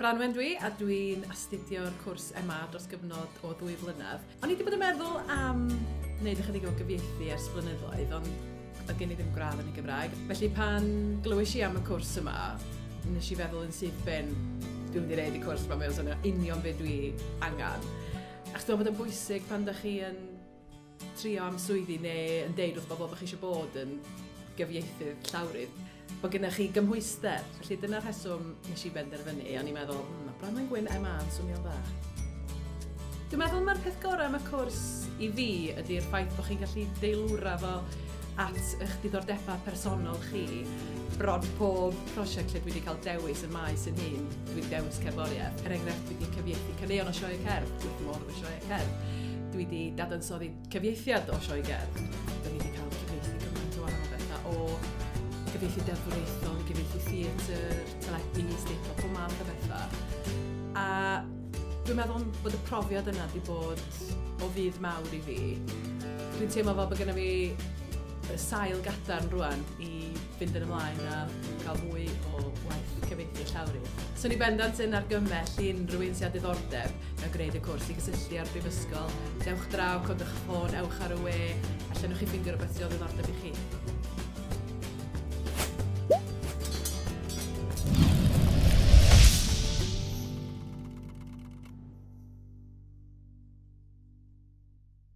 Branwen dwi, a dwi'n astudio'r cwrs MA dros gyfnod o ddwy flynedd. O'n i wedi bod yn meddwl am wneud ychydig o gyfieithu ers blynyddoedd, ond oedd gen i ddim gradd yn y Gymraeg. Felly pan glywais i am y cwrs yma, nes i feddwl yn syth ben, dwi'n mynd i wneud y cwrs yma, mae o'n swnio union beth dwi angen. Ac dwi'n bod yn bwysig pan da chi yn trio am swyddi neu yn deud wrth bobl bod chi eisiau bod yn gyfieithydd llawrydd, bod gennych chi gymhwyster. Felly dyna'r rheswm nes i benderfynu, o'n i'n meddwl, mm, mae Branwen Gwyn MA yn swnio'n dda. Dwi'n meddwl mae'r peth gorau am y cwrs i fi ydy'r ffaith bod chi'n gallu deilwra fo at eich diddordebau personol chi. Bron pob prosiect lle dwi wedi cael dewis y maes yn hyn, dwi'n dewis cerddoriaeth. Er enghraifft, dwi wedi cyfieithu caneuon o sioe cerdd, dwi'n mor Sioe Cerdd. Dwi wedi dadansoddi cyfieithiad o Sioe Cerdd. Dwi wedi cael cyfieithu gymaint o wahanol bethau o gyfieithu deddfwriaethol i gyfieithu theatr, teledu, steitlo, pob math o bethau. A dwi'n meddwl bod y profiad yna wedi bod o fydd mawr i fi. Dwi'n teimlo fel bod gennym fi sail gadarn rwan i fynd yn ymlaen a cael mwy o waith cyfieithu llawrydd. Swn i bendant yn argymell i unrhyw un sydd â diddordeb mewn gwneud y cwrs i gysylltu â'r Brifysgol. Dewch draw, codwch y ffôn, ewch ar y we, a llynwch chi ffeindio rhywbeth sydd o ddiddordeb i chi.